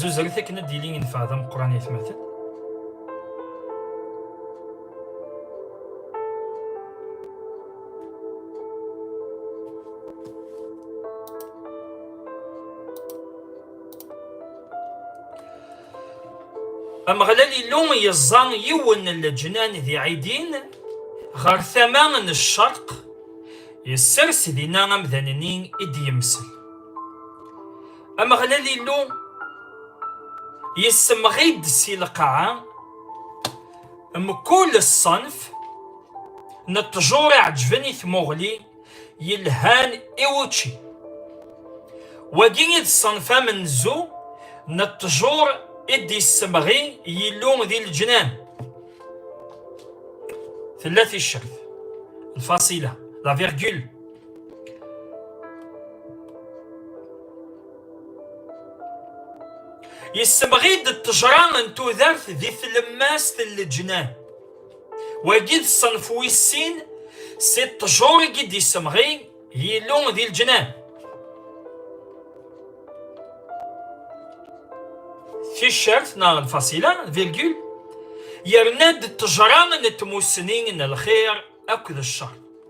Zuzret akken ad d-yili yenfeɛ d ameqqran i atmaten. Ameɣlal Illu yeẓẓa yiwen n leǧnan di Ɛidin ɣer tama n ccerq, yessers dinna amdan-nni i d-yemsel. Ameɣlal Illu yessemɣi-d si lqaɛa mkul ṣṣenf n ṭṭjur iɛeǧben i tmuɣli yelhan i wučči. Wagi i d ṣṣenf amenzu n ṭṭjur i d-yessemɣi Yillu di leǧnan. Tella ticcert, lfasila, la virgule. yessemɣi-d ttejra n tudert di tlemmast n leǧnan wagi d ṣṣenf wis sin si ṭṭjur i d-yessemɣi Yillu di leǧnan ticert neɣ lfasila virgule yerna-d ttejra n tmussni n lxir akked ccer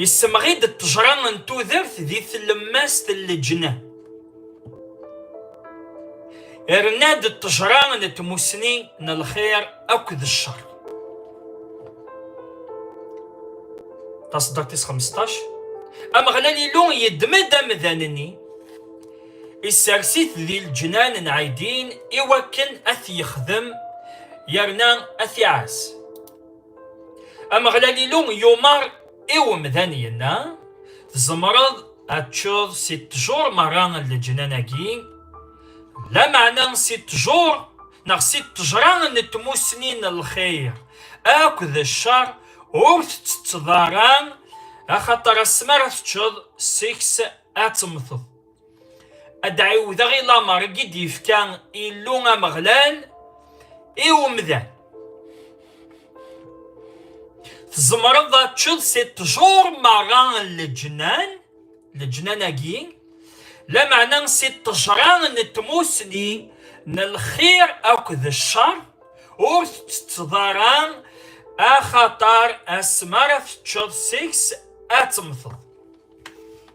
Yessemɣi-d ṭṭejra n tudert di tlemmast n leǧna. Yerna-d ṭṭejra n tmusni n lxir akked ccer. Taṣeddart tis 15 Ameɣlal Illu yeddem-d amdan-nni, isers-it di leǧnan n Ɛidin i wakken ad t-yexdem yerna ad t-iɛas. Ameɣlal Illu yumar i umdan yenna, tzemreḍ ad teččeḍ si ṭṭjur merra n leǧnan-agi, lameɛna si ṭṭjur neɣ si ṭṭejra n tmussni n lxir akked ccer ur tettetteḍ ara, axaṭer asmi ara teččeḍ seg-s ad temmteḍ. ad ɛiwdeɣ i lamer i d-yefka Illu Ameɣlal i umdan. Tzemreḍ ad teččeḍ si ṭṭjur merra n leǧnan, leǧnan-agi, lameɛna si ṭṭejra n tmusni n lxir akked ccer, ur tettetteḍ ara axaṭer asmi ara teččeḍ seg-s ad temmteḍ.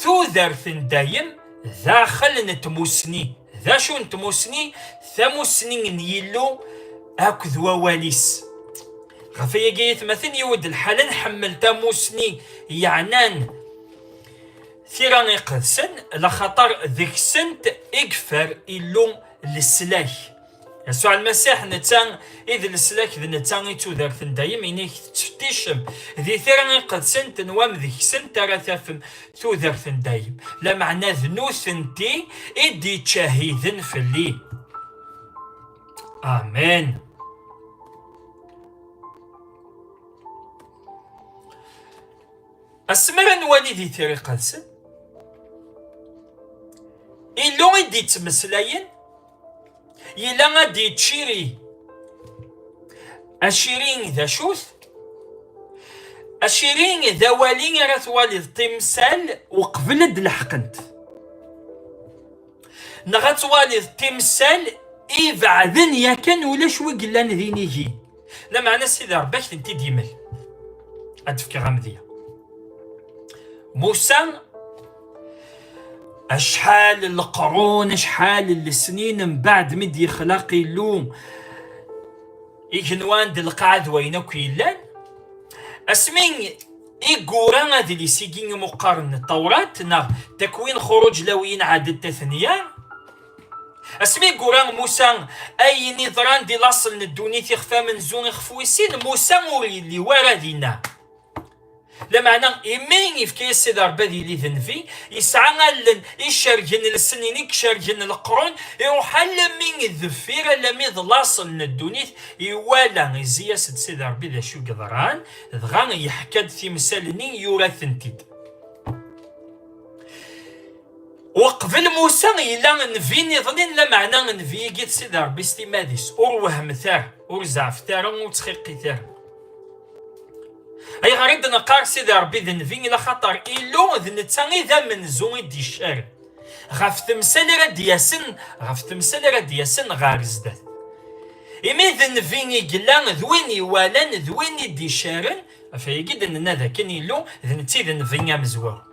Tudert n dayem daxel n tmusni. D acu n tmusni? Tamusni n Yillu akked wawal-is. Ɣef ayagi ayetmaten yiwed lḥal nḥemmel tamusni yeɛnan tira iqedsen laxaṭer deg-sent i yeffer Illu leslak. Yasuɛ Lmasiḥ netta i d leslak d netta i tudert n dayem inig tettfetticem di tira iqedsent n wam deg-sent ara tafem tudert n dayem lameɛna d nutenti i d-ittcahiden fell-i amen asmi ara nwali di tira iqedsen illu i d-ittmeslayen Yella ad d-yettciri. Aciri d acu-t? Aciri d awali ara twaliḍ timsal uqbel ad d-leḥqent. Neɣ ad twaliḍ timsal ibeɛden yakan ulac wi yellan d inigi. Lameɛna Sidi Ṛebbi ak tent-id yemel. Ad d-fkeɣ amedya. Musa acḥal n leqrun acḥal n lesnin mbaɛd mi d-yexlaq Illu igenwan d lqaɛa d wayen akk yellan asmi i gura adlis-igi imuqqaren n Tawrat neɣ takwin xuruǧ lawiyin ɛaded tatenya Asmi gura Musa ayen iḍran di laṣel n ddunit ixef amenzu ixef wis sin Musa ur yelli wara dinna. Lameɛna imi yefka-yas Sidi Rebbi ad yili d nnbi, yesɛa allen icergen lsenin i icergen leqrun, iruḥ alami deffir alami d laṣel n ddunit, iwala izzi-yas-d Sidi Rebbi d acu i yeḍran, dɣa yeḥka-d timsal-nni yura-tent-id. Uqbel Musa yella nnbi niḍen, lameɛna nnbi-agi d Sidi Ṛebbi s timmad-is. Ur wehmet ara, ur zeɛfet ara, ur ttxiqit ara. Ayɣer i d-neqqar Sidi Ṛebbi d nnbi? Ila xaṭer Illu d netta i d amenzu i d-iccaren ɣef temsal ara d-yasen, ɣef temsal ara d-yasen ɣer zdat. Imi d nnbi i yella, d win iwalan, d win i d-iccaren, ɣef wayagi i d-nenna d akken Illu d netta i d nnbi amezwaru.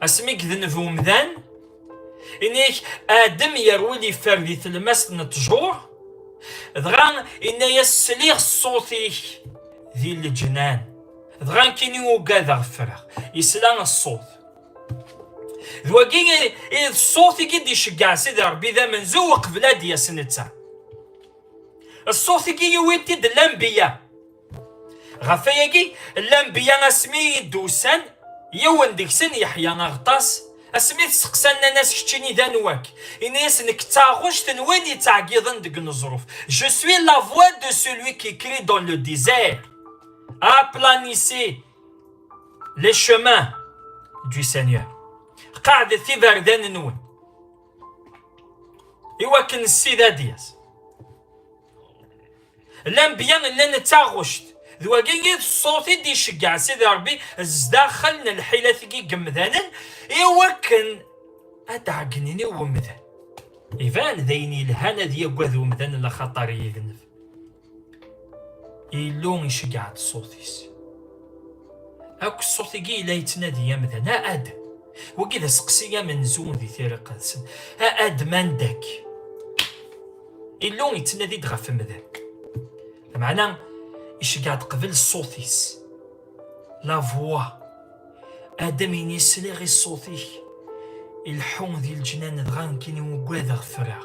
asmi gdenneb umdan inik adem yerwil iffer di telmast n ttjur dɣa inna-yas sliɣ ṣṣut-ik di leǧnan dɣa kini ugadeɣ ffreɣ isla ṣṣut d wagi i d ṣṣut i d-iceggeɛ sidi rebbi d amenzu uqbel ad d-yas netta ṣṣut-agi yuwi-t-id lambiya Ɣef ayagi, lanbiya asmi i yi-d-ussan, yiwen deg-sen yeḥya aɣeṭṭas, asmi t-seqsan nnan-as keččini d anwa-k? Ini-as nekk d taɣect n win yettɛeggiḍen deg uneẓruf, je suis la voix de celui qui crie dans le désert, aplanissez les chemins du Seigneur. Qeɛdet iberdan-nwen. Iwakken Ssid ad yas. Lanbya llan d taɣect. D wagi i d ṣṣut i d-iceggeɛ Sidi Ṛebbi zdaxel n lḥilat-agi n yemdanen i wakken ad d-ɛeggnen i umdan. Iban d ayen yelhan ad yaggad umdan laxaṭer yedneb. Illu iceggeɛ-d ṣṣut-is. Akk ṣṣut-agi yella yettnadi amdan, a Adam. Wagi d aseqsi amenzu di tiriqt-nsen. A Adam, anda-k? Illu yettnadi-d ɣef umdan. Lameɛna iceggeɛ-d qbel ṣṣut-is. La voix. Adam ini sliɣ i ṣṣut-ik. Ileḥḥu di leǧnan dɣa nekkini ugadeɣ ffreɣ.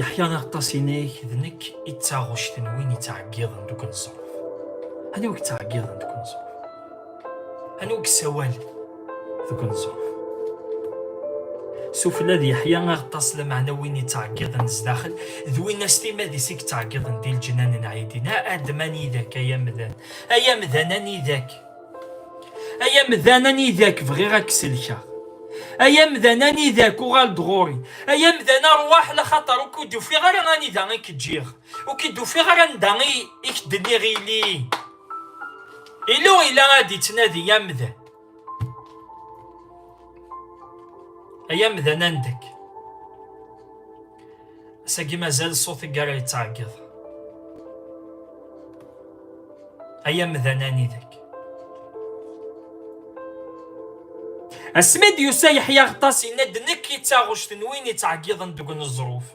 Yeḥya aṭas-inek d nekk i d taɣect n win yettɛeggiḍen deg unẓar. Anwa yettɛeggiḍen deg unẓar? Anwa yessawal deg unẓar? Sufella d Yeḥya aṭas lameɛna win yettɛeggiḍen sdaxel d win as timad-is i yettɛeggiḍen di leǧnan n Ɛidin. Adem anida-k ay amdan, ay amdan anida-k? Ay amdan anida k-bɣiɣ ad k-selkeɣ Ay amdan anida k uɣal-d ɣur-i Ay amdan arwaḥ la xaṭer ur k-id-ufiɣ ara anida i k-ǧǧiɣ Ur k-id-ufiɣ ara anda i k-d-nniɣ ili Ilu ila ad d-ittnadi amdan Ay amdan andek Ass-agi mazal ṣṣut i ara yettɛeggiḍ. Ay amdan anidek. Asmi d-yusa Yeḥya Aɣeṭṭas yenna-d nekk i taɣect n win yettɛeggiḍen deg uneẓruf.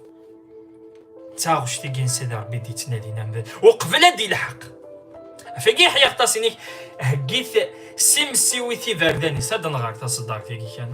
Taɣect i ginsa d Rebbi d-yettnadin amdan uqbel ad d-ilḥeq. Afagi Yeḥya Aɣeṭṭas inek heggit simsiwit iberdan-is ad nɣer taṣeddart-agi kan.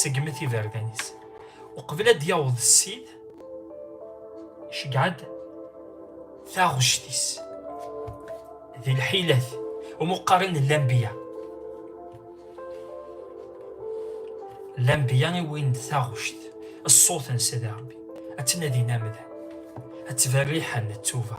segmet iberdan-is uqbel ad d-yaweḍ ssid iceggeɛ-d taɣect-is di lḥilat umuqqaren n lambiya lambiya i win d taɣect ṣṣut-nsen di rebbi ad tnadin amdan ad tberriḥen ttuba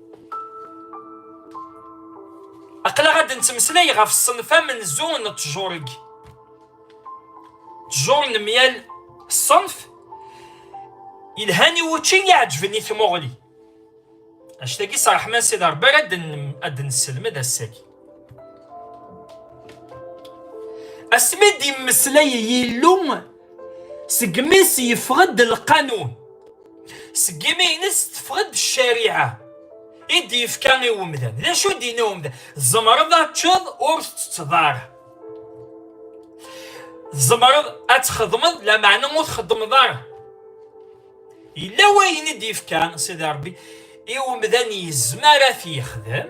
aql-aɣ ad nettmeslay ɣef ṣṣenf amenzu n ttjurg ttjur n myal ṣṣenf yelhan i wučči iɛeǧben i tmuɣli act-agi s ṛṛeḥma-s i d ṛebbi ara ad nesselmed ass-agi asmi d-yemmeslay Yillu segmi s yeffeɣ-d lqanun seg imi-nnes teffeɣ-d ccariɛa i d-yefka i umdan d acu d-yenna umdan tzemreḍ ad teččeḍ ur tettetteḍ ara tzemreḍ ad txedmeḍ lameɛna ur txedmeḍ ara yella wayen i d-yefkan sidi rebbi i umdan yezmer ad t-yexdem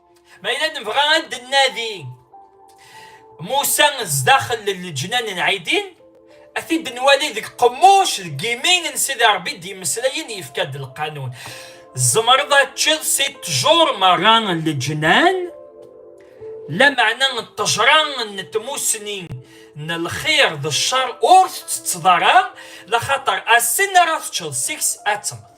Ma yella nebɣa ad d-nnadi Musa zdaxel n leǧnan n Ɛidin, ad t-id-nwali deg qemmuc deg yimi n Sidi Ṛebbi d-yemmeslayen yefka-d lqanun. Tzemreḍ ad teččiḍ si ṭṭjur merra n leǧnan, lameɛna n ṭṭejra n tmusni n lxir d ccer ur tettetteḍ ara, laxaṭer ass-n ara teččeḍ seg-s ad temmeḍ.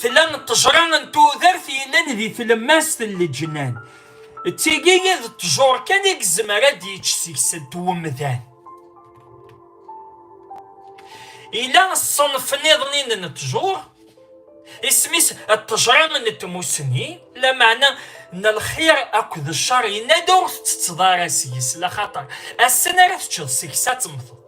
tella ṭṭejra n tudert yellan di tlemmast n leǧnan d tigi i d ṭṭjur kan i yezmer ad d-yečč seg-sent umdan yella ṣṣenf niḍen n ṭṭjur isem-is ṭṭejra n tmussni lameɛna n lxir akked ccer yenna-d ur tettetteḍ ara seg-s laxaṭer ass-n ara teččeḍ seg-s ad temmteḍ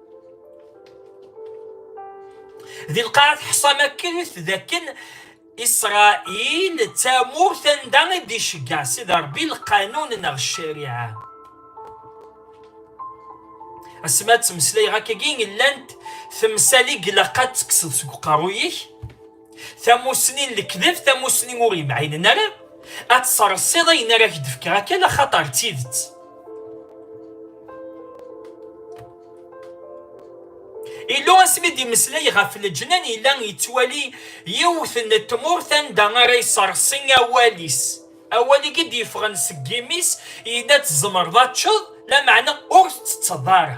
di lqaɛa teḥṣam akken dakken isṛail d tamurt anda i d-iceggeɛ sida ṛebbi lqanun neɣ ccariɛa asma ttmeslayeɣ akkagi llant temsal i ilaq ad tekkseḍ seg uqerruy-ik tamussni n lekdeb tamussni ur yemɛinen ara ad tsersiḍ ayen ara k-d-fkeɣ akan axaṭer d tidet illu asmi d-imeslay ɣef leǧnan yella yettwali yiwet n tmurt anda ara yessersi awal-is awal i d-yeffɣen seg yimi-s yella tzemreḍ ad teččeḍ lameɛna ur tettetteḍ ara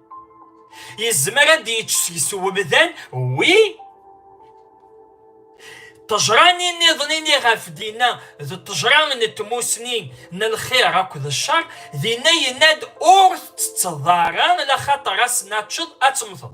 yezmer ad yečč seg-s umdan wi ṭejrani niḍen ini ɣef dinna d ṭejra n tmusni n lxir akked ccer dinna yenna-d ur tettetteḍ ara laxaṭer ass n ad teččeḍ ad temmteḍ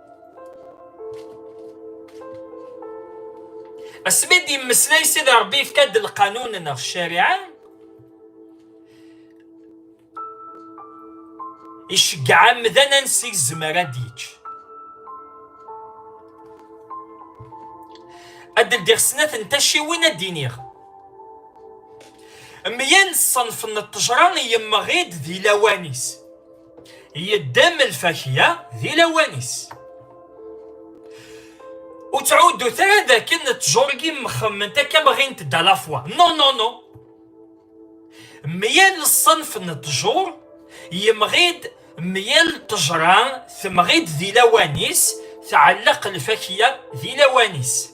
asmi d yemmeslay sida rebbi yefka-d lqanun neɣ ccariɛa iceggeɛ amdan ansi yezmer ad d-yečč ad d-ldiɣ snat n taciwin ad d-iniɣ meyya n ṣṣenf n ṭṭejra yemmeɣ-id di lawan-is yeddem lfakya di lawan-is ur ttɛuddut ara d akken ttjurgi mxemment akka bɣint d alafwa non non non meyal ṣṣenf n ttjur yemɣi-d meyal ṭejra temɣi-d di lawan-is tɛelleq lfakya di lawan-is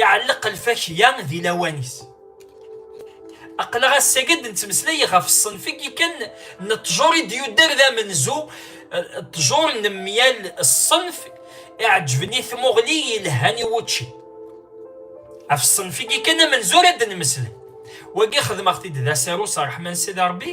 Iɛelleq lfakya di lawan-is. Aql-aɣ ass-agi ad d-nettmeslay ɣef ṣṣenf-agi kan n ṭṭjur i d-yudder d amenzu, ṭṭjur n myal ṣṣenf iɛeǧǧben i tmuɣli yelhan i wučči. Ɣef ṣṣenf-agi kan amenzu ara d-nmeslay. Wagi xedmeɣ-t-id d asaru s ṛṛeḥma n Sidi Ṛebbi.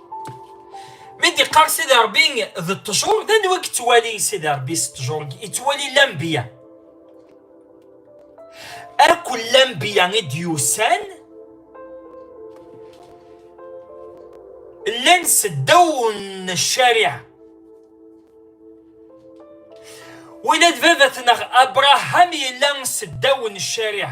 mi d-iqqar Sidi Ṛebbi d ṭṭjur d anwa i yettwali Sidi Ṛebbi s ṭṭjur yettwali lambiya akk lambiya i d-yusan llan seddaw n ccariɛa win ad babat neɣ abraham yella seddaw n ccariɛa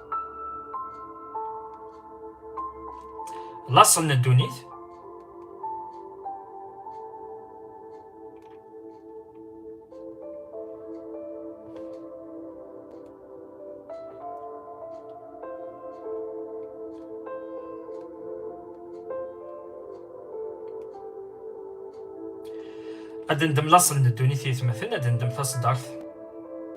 laṣel n ddunit ad ndem laṣel n ddunit yetmaten ad ndem taṣeddart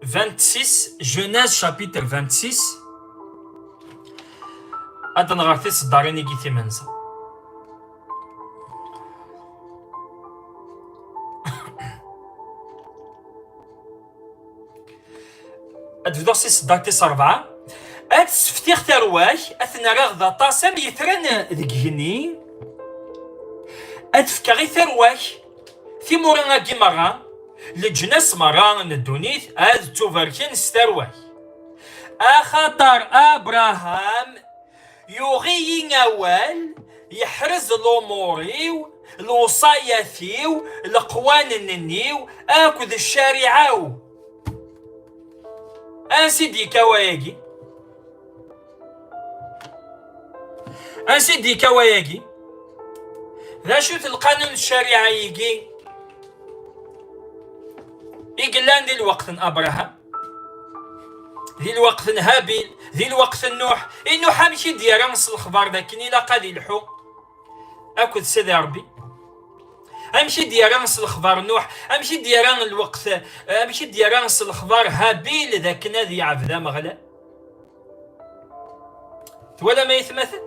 26, Genèse chapitre 26. Ad nɣer tiseddarin i gitimenza. Ad bduɣ si seddarit tis rebɛa. Ad seftiɣ tarwa-k, ad ten-rreɣ d aṭas am yetran deg igenni. Ad fkeɣ i tarwa-k Timura-agi merra, leǧnas merra n ddunit ad ttubarken s tarwa-k. Axaṭer Abraham yuɣ-iyi awal, yeḥrez lumuṛ-iw, lewṣayat-iw, leqwanen-nni-w akked ccariɛa-w. Ansi d-yekka wayagi? Ansi d-yekka wayagi? D acu-t lqanun ccariɛa-igi i yellan di lweqt n Abraham, di lweqt n Habil, di lweqt n Nuḥ? I Nuḥ amek i d-yerra s lexbar d akken ilaq ad ilḥu akked Sidi Ṛebbi? amek i d-yerra s lexbar Nuḥ? amek i d-yerra lweqt amek i d-yerra s lexbar Habil d akken ad yeɛbed Ameɣlal? Twalam ayetmaten?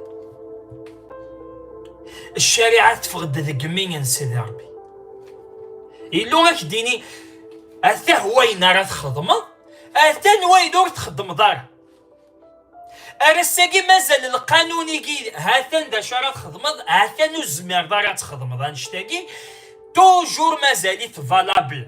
Ccariɛa teffeɣ-d deg mi n Sidi Ṛebbi. Illu ad k-d-ini atah wayen ara txedmeḍ, atan wayen ur txedmeḍ ara. Ar ass-agi mazal lqanun-igi hatan d acu ara txedmeḍ, hatan ur zmireḍ ara ad txedmeḍ annect-agi, toujours mazal-it valable.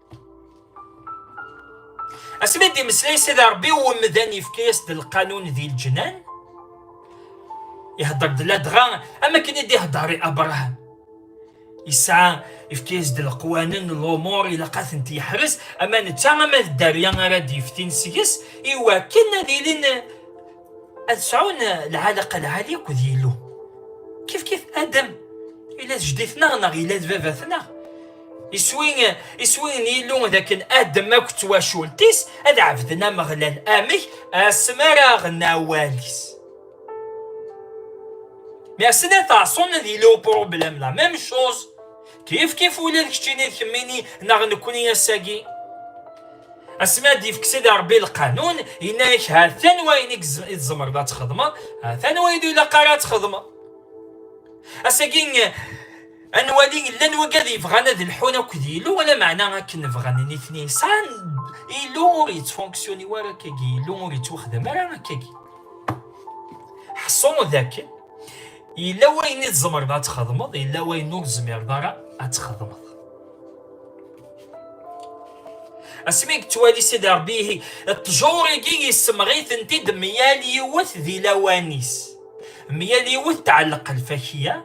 asmi d-imeslay sida rebbi wemdan yefka-yas-d lqanun di lǧnan ihedder-d ladɣa am akken i d-ihedder i abraham yesɛa yefka-yas-d leqwanen lumuṛ ilaq ad tent-yeḥrez ama netta ama d dderya ara d-yeftin seg-s iwakken ad ilin ad sɛun lɛalaqa lɛali akked Yillu. Kif kif Adam, ila d jeddi-tneɣ neɣ ila d baba-tneɣ. Iswi, iswi n Yillu d akken Adam akk d twacult-is ad ɛebden Ameɣlal amek asmi ara aɣen awal-is. Mais asmi ad ɛṣun ad yili upṛublem la même chose. Kif kif ula d keččini d kemmini neɣ nekkni ass-agi. Asmi ad d-yefk Sidi Rebbi lqanun, yenna-ak ha-t-an wayen i tzemreḍ ad txedmeḍ, ha-t-an wayen ur ilaq ara ad txedmeḍ. Ass-agi ad nwali llan wagad yebɣan ad lḥun akked Yillu, wala meɛna akken bɣan nitni sɛan Yillu ur yettfunksiyoni ara akkagi, Yillu ur yettwaxdam ara akkagi. Ḥṣu dakken yella wayen i tzemreḍ ad txedmeḍ yella wayen ur tezmireḍ ara ad txedmeḍ asmi yettwali sidi rebbi ihi ṭṭjur-agi yessemɣi-tent-id myal yiwet di lawan-is myal yiwet tɛelleq lfakiya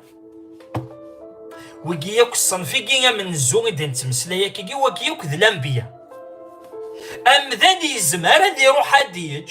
wigi yakk ṣṣenf-igi amenzu i d-nettmeslay akigi wagi yakk d lambiya amdan yezmer ad iruḥ ad yeǧǧ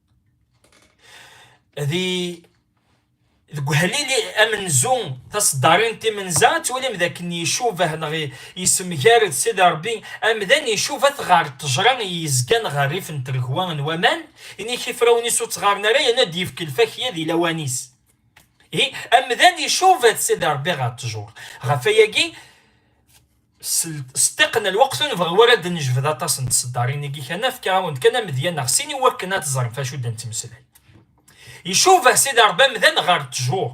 ذي deg uhlili amenzu taseddarin timenza ad twalim d akken icuba neɣ yessemgar-d s iderbi amdan icuba-t ɣer ṭejra yezgan ɣer rrif n tregwa n waman inik ifrawen-is ur ttɣaren ara yerna ad yefk lfakya di lawan-is amdan icuba-t s iderbi ɣer ṭejur ɣef ayagi S ṭṭiq n lweqt ur nebɣi ara ad d-nejbed aṭas n tseddarin-agi kan, afk-awen-d kan amedya neɣ sin i wakken ad teẓrem f acu d-nettmeslay. Icuba Sidi Ṛebbi amdan ɣer ṭṭjur.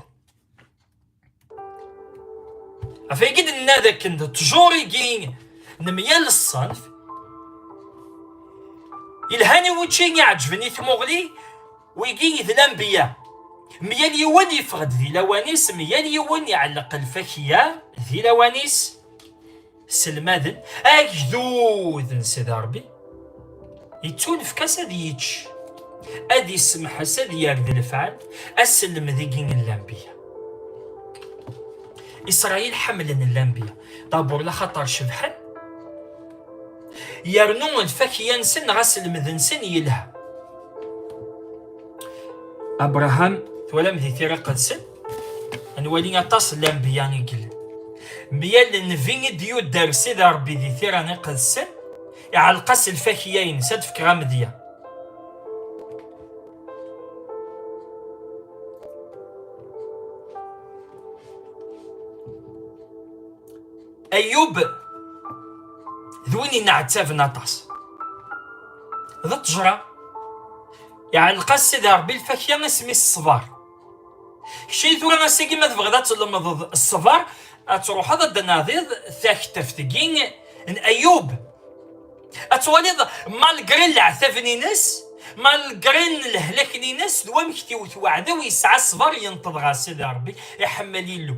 Ɣef wagi nenna d akken d ṭṭjur-agi n myal ṣṣenf, yelhan i wučči, iɛeǧben i tmuɣli, Wigi i d lanbiya. Myal yiwen yeffeɣ-d di lawan-is, myal yiwen iɛelleq lfakya di lawan-is. Selmaden agdud n Sidi Ṛebbi, yettunefk-as ad yečč, ad yessemḥes, ad yerdi lefɛal, aselmed-igi n lanbiya. Isṛayil ḥemmlen lanbiya, dabur laxaṭer cebḥen, yernu lfakya-nsen neɣ aselmed-nsen yelha abraham twalam di tira qedsen nwali aṭas n lanbiya i yellan mya lnbi i d-yudder sida rebbi di tira iqedsen iɛelleq-as lfakya-ines ad fkeɣ amedya Ayub d win yenneɛtaben aṭas d ṭṭejra iɛelleq-as Sidi Ṛebbi lfakya asmi s ṣṣber keččini tura ass-agi ma tebɣiḍ ad tlemdeḍ ṣṣber ad truḥeḍ ad d-nadiḍ takteft-agi n Ayub ad twaliḍ malgre leɛtaben-ines malgre lehlaken-ines d wamek t-iwet weɛdaw yesɛa ṣṣber yenṭeḍ ɣer Sidi Ṛebbi iḥemmel Illu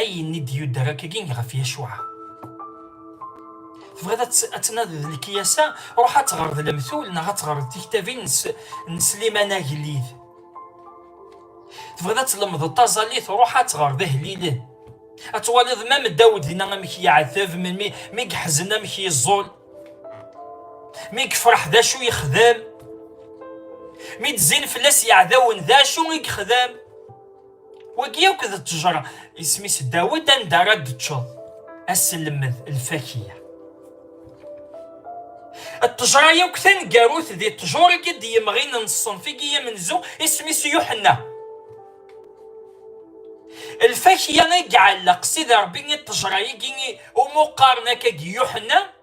Ayen i d-yudder akkagi ɣef Yacuɛa. Tebɣiḍ ad tnadiḍ lekyasa, ruḥ ad teɣreḍ lemtul neɣ ad teɣreḍ tiktabin n Sliman Agellid. Tebɣiḍ ad tlemdeḍ taẓallit, ruḥ ad teɣreḍ ihellilen. Ad twaliḍ ma Dawed dinna amek yeɛteb, melmi mi yeḥzen amek yeẓẓul, mi yefreḥ d acu yexdem, mi d-zzin fell-as yeɛdawen d acu i yexdem. wagi yakk d ttejra isem-is Dawed anda ara d-teččeḍ aselmed lfakiya ttejra yakk taneggarut di ttjur i d-yemɣin n ṣṣenf i yamenzu isem-is Yuḥenna lfakiya i iɛelleq sidi rebbi i ttejra-agi umu qqaren akka Yuḥenna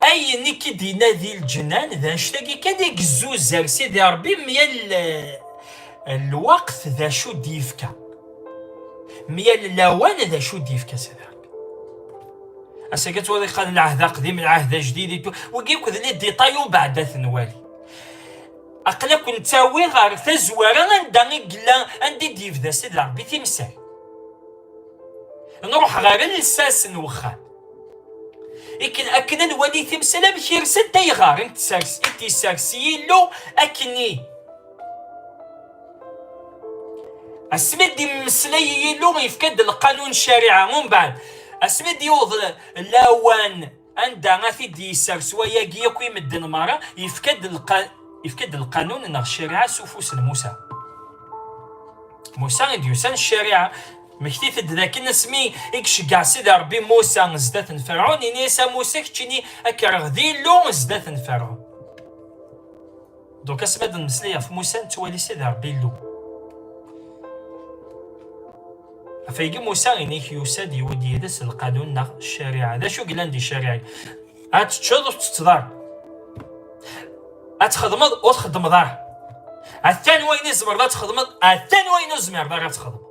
Ayen i k-id-yenna di lǧenan d anect-agi kan i gezzuzar Sidi Ṛebbi myal eh, lweqt d acu d-yefka. Myal lawan d acu d-yefka Sidi Ṛebbi. Asagi ad twaliḍ qad lɛehd aqdim, lɛehd ajdid, wigi akk d li d-iṭay ubeɛd ad ten-wali. Aqla ken-ttawi ɣer tazwara anda i yella, anda i d-yebda Sidi Ṛebbi timsal. Nruḥ ɣer lsas n wexxam. ikken akken ad nwali timsal amek irsent ayɣer i t-yessers Yillu akkenni asmi d-immeslay Yillu yefka-d lqanun ccariɛa umbeɛd asmi d-yuweḍ lawan anda a t-id-yessers wayagi akk i medden merra yefka-d lqanun neɣ ccariɛa s ufus n Musa Musa i d-yusan ccariɛa Mmektit-d dakken asmi i iceggeɛ Sidi Ṛebbi Musa zdat n Ferɛun, ini-as a Musa, keččini ad k-rreɣ d Illu zdat n Ferɛun. Donc asmi ad d-nemmeslay ɣef Musa, nettwali Sidi Ṛebbi Illu. Ɣef wayagi Musa ini-k yusa-d yewwi-d yid-s lqanun neɣ ccariɛa. D acu yellan di ccariɛa? Ad teččeḍ ur ttetteḍ ara. Ad txedmeḍ ur txeddmeḍ ara. Atan wayen i tzemreḍ ad txedmeḍ, atan wayen ur tezmireḍ ara ad txedmeḍ.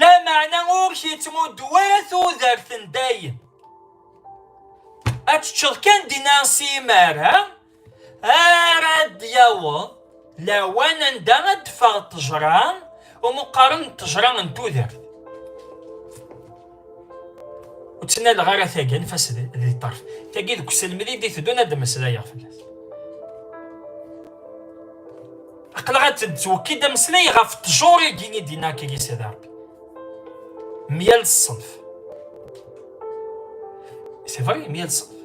Lameɛna ur k-yettmuddu ara tudert n dayem. Ad teččeḍ kan dinna simar, ha? Ara d-yaweḍ lawan anda ad d-teffeɣ ṭṭejra, umeqqaren n ṭṭejra n tudert. Ur ttnaleɣ ara tagi anef-as di ṭṭerf. Tagi deg uselmed i d-iteddun ad d-meslayeɣ fell-as. Aqlaɣ ad d-twekki-d ameslay ɣef ttjur-agi i d-inna akagi Sidi Rebbi. Myal ṣṣenf. C'est vrai, myal ṣṣenf.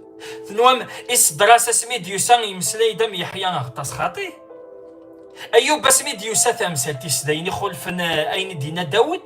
Tenwam iseddras asmi d-yusa yemeslay-d am Yeḥya Aɣeṭṭas xaṭi. Ayub asmi d-yusa tamsalt-is d ayen ixulfen ayen i d-inna Dawed.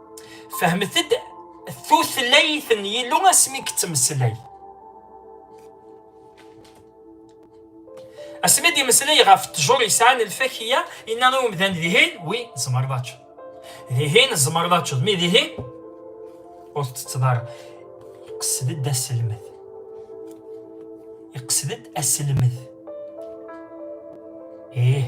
Fehmet-d tutlayt n Yillu asmi yettmeslay. Asmi d-imeslay ɣef ttjur yesɛan lfakiya, inna i umdan dihin, wi tzemreḍ ad teččeḍ. Dihin tzemreḍ ad teččeḍ, mi dihin ur tettetteḍ ara. Iqsed-d aselmed. Iqsed-d aselmed. Ih.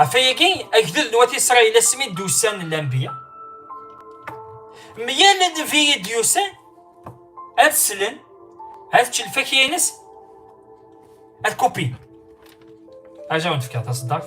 ɣef ayagi agdud n wat isṛayil asmi d-ussan lanbiya meyal nnbi i d-yusan ad slen ad ččen lfakya-ines ad kupin aja wen fkiɣ taṣeddart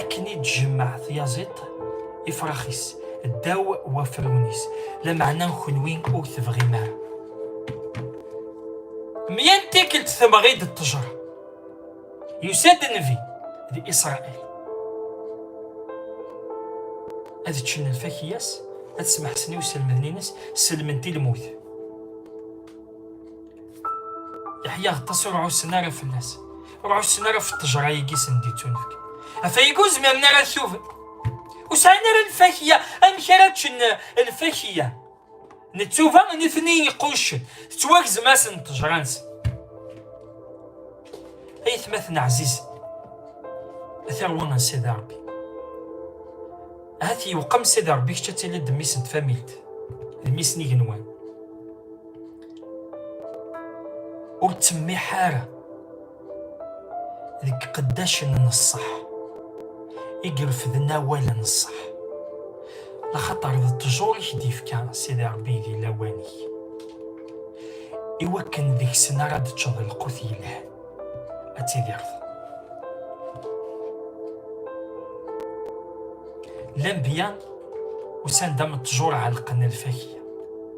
akken i d-tjemmeɛ tyaziḍt ifrax-is ddaw wafrun-is lameɛna kenwi ur tebɣim ara mya n tikkelt tebɣi-d ṭṭejra yusa-d nnbi d isṛail ad ččen lfakya-s ad smeḥsen i uselmed-nnes selment i lmut yeḥya aṭas ur ɛussen ara fell-as ur ɛussen ara ɣef ṭṭejra-agi sen d-ittunefk ɣef ayagi ur zmiren ara ad tuben ur sɛin ara lfakya amek ara ččen lfakya nettuba nitni iquccen tettwagzem-asen ṭṭejra-nsen ay tmaten ɛziz atarwa n sidi rebbi ahat yewqem sidi rebbi kečč ad tiliḍ d mmis n tfamilt d mmis n igenwan ur ttsemmiḥ ara deg qeddacen n ṣṣeḥ i irefden awal n ṣṣeḥ lxaṭer d ttjur i k-d-ifka Sidi Ṛebbi di lawan-ik iwakken deg-sen ara d-teččeḍ lqut yelhan ad tidireḍ lanbiya usan-d am ttjur ɛelqen lfakya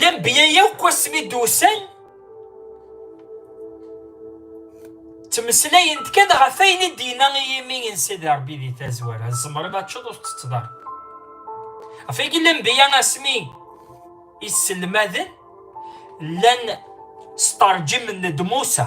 Lambya yakk asmi d-usan ttmeslayent kan ɣef ayen i d-yenna i yimi n Sidi Ṛebbi di tazwara tzemreḍ ad teččeḍ ur tettetteḍ ara ɣef wagi lambya asmi iselmaden llan sṭerǧimen-d Musa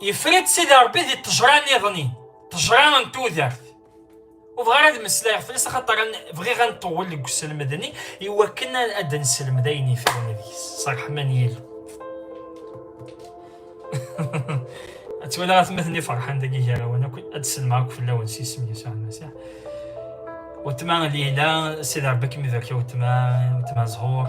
Yefra-d Sidi Ṛebbi di ṭejra niḍen-in, ṭejra n tudert. Ur bɣiɣ ara ad meslayeɣ fell-as axaṭer bɣiɣ ad nṭewwel deg uselmed-nni iwakken ad d-nselmed ayen yefran deg-s s ṛṛeḥma n Yillu. Ad twalaɣ atmaten-nni ferḥen deg yigarawen akk ad d-selmeɣ akk fell-awen s yisem Yasuɛ Lmasiḥ. Weltma Lila, Sidi Ṛebbi ad kem-ibarek a weltma, weltma Zhur.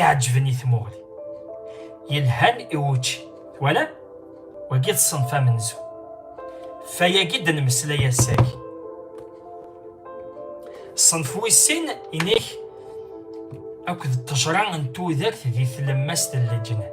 iɛeǧben i tmuɣli yelhan i wučči twalam wagi d ṣṣenf amenzu fayagi d nmeslay ass-agi ṣṣenf wis sin inek akked ṭṭejra n tudert di tlemmast n leǧnan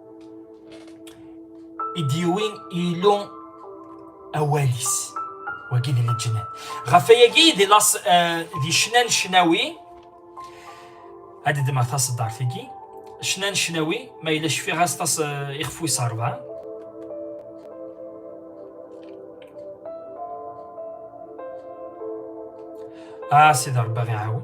i d-yuwi Illu awal-is wagi di leǧnan ɣef ayagi di las di cnan cnawi ad d-dmeɣ taṣeddart-agi cnan cnawi ma yella cfiɣ-as tas ixef wis rebɛa a sidi rebbi ɣ-iɛawen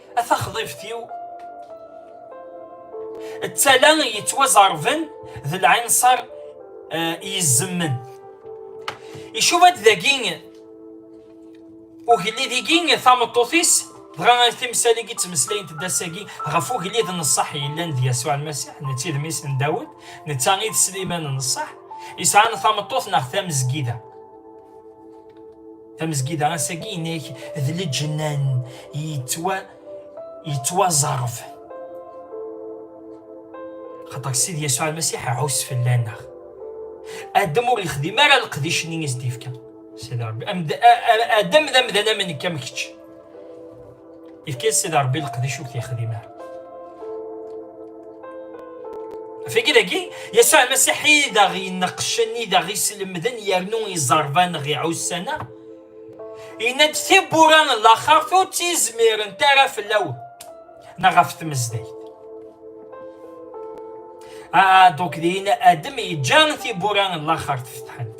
A taxḍibt-iw, d tala yettwaẓerben d lɛinṣer eh, yezzemmen. Icuba-d dagi ugellid-igi tameṭṭut-is dɣa ar timsal-agi ttmeslayent-d ass-agi ɣef ugellid n ṣṣeḥ yellan d Yasuɛ Lmasiḥ netta i d mmi-s n Dawed netta i d Sliman n ṣṣeḥ yesɛan tameṭṭut neɣ tamezgida. Tamezgida ass-agi inek d leǧnan yettwa yettwaẓerf xaṭer Sidi Yasuɛ Lmasiḥ ɛus fell-aneɣ Adam ur yexdim ara leqdic-nni i s-d-yefka Sidi Rebbi Adam d amdan am nekk am kečč Ifka-yas Sidi Ṛebbi leqdic ur t-yexdim ara. Figi dagi, Yasuɛ Almasiḥ i d aɣ-ineqqcen, i d aɣ-islemden yernu iẓerban ɣ-iɛussan-a. Yenna-d tibbura n laxert ur tt-izmirent ara fell-awen neɣ ɣef tmezdayt. Ah, donc din Adam yeǧǧa tibbura n laxert fetḥent.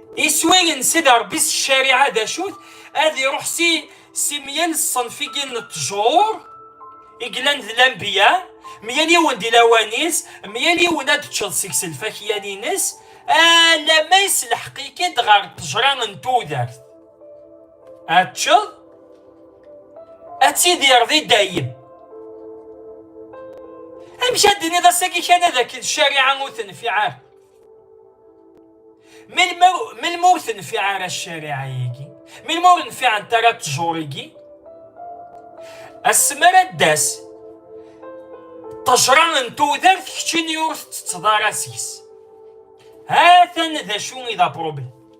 iswi n sida rebbi s ccariɛa d acut ad iruḥ si si mya n ṣṣenfigi n ttjur i yellan d lambiya mya yiwen di lawan-is mya yiwen ad teččeḍ seg-s lfakya-nnes ala ma yeslḥeq-ik-id ɣer ṭṭejra n tudert ad teččeḍ ad tidireḍ i dayem amek ad d-tiniḍ ass-agi kan ad akken ccariɛa ur tenfiɛ ara melmi ur tenfiɛ ara ccariɛa-agi melmi ur nfiɛent ara ttjur-agi asmi ara d-tas ṭejra n tudert keččini ur tettetteḍ ara seg-s ha-t-an d acu i d apṛublem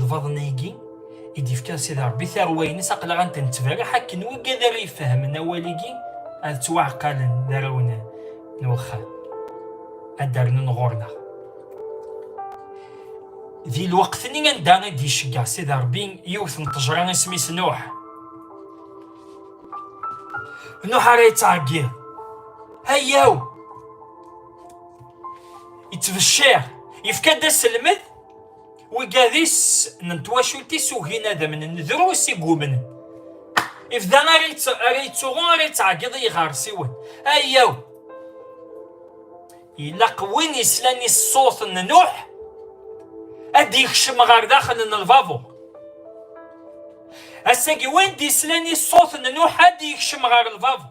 lbaḍna-agi i d-ifkan Sidi Ṛebbi tarwa-ines aqlaɣ ant nettberriḥ akken wagad ara ifehmen awal-igi ad ttwaɛqalen d arraw n wexxam ad d-rnun ɣur-neɣ di lweqt-nni anda i d-iceggeɛ Sidi Ṛebbi yiwet n ṭejra isem-is Nuḥ Nuḥ ara yettɛeggiḍ ayaw ittbecciṛ yefka-d aselmed Wigadis n twacult-is ugin ad amnen drus i gumnen. Ifda ara yettuɣu ara yettɛeggiḍ i yiɣersiwen. Ayaw! Ilaq win islan i ṣṣut n Nuḥ ad d-yekcem ɣer daxel n lbabuṛ. Ass-agi win d-islan i ṣṣut n Nuḥ ad d-yekcem ɣer lbabuṛ.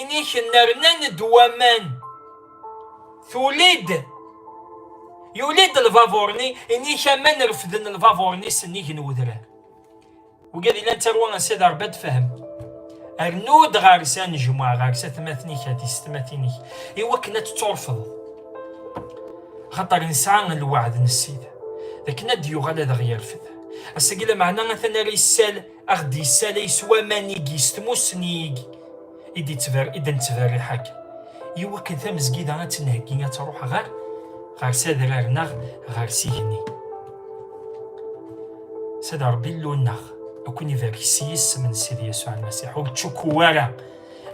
Iniken rnan-d waman. Tulid yuli-d lbabuṛ-nni, inik aman refden lbabuṛ-nni s nnig n wedrar. Wigi ad ilan tarwa n Sidi Ṛebbi ad tefhem. Rnu-d ɣer-s anejmuɛ, ɣer-s atmaten-ik, a tistmatin-ik, i wakken ad tetturfeḍ. Xaṭer nesɛa lweɛd n Ssid, d akken ad d-yuɣal ad aɣ-yerfed. Ass-agi lameɛna atan ara yessal Aɣ d-yessalay s waman-igi, s tmussni-igi, i d-nettberriḥ akka. Yiw akken tamezgida ad tt-nheggi, ad truḥ ɣer ɣer sadrar neɣ ɣer sigenni. Sad Rebbi Illu-nneɣ, ad kun-ibarek s yisem n Sidi Yasuɛ Lmasiḥ, ur ttcukku ara,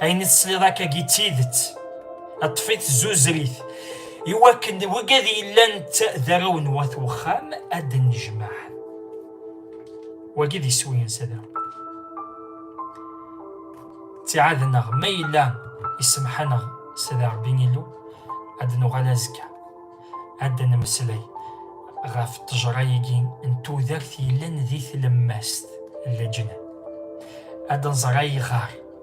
ayen i tesliḍ akkagi d tidet, ṭṭef-it zuzrit, iwakken wigi ad yellan d arraw n wat uxxam ad d-nnejmaɛen. wagi d iswi sada ttiɛadeneɣ ma yella isemḥaneɣ sada rebbi illu ad nuɣal azekka ad nemmeslay ɣef ṭṭejra-agi n tudert yellan di tlemmast n leǧnan ad nẓer ayɣer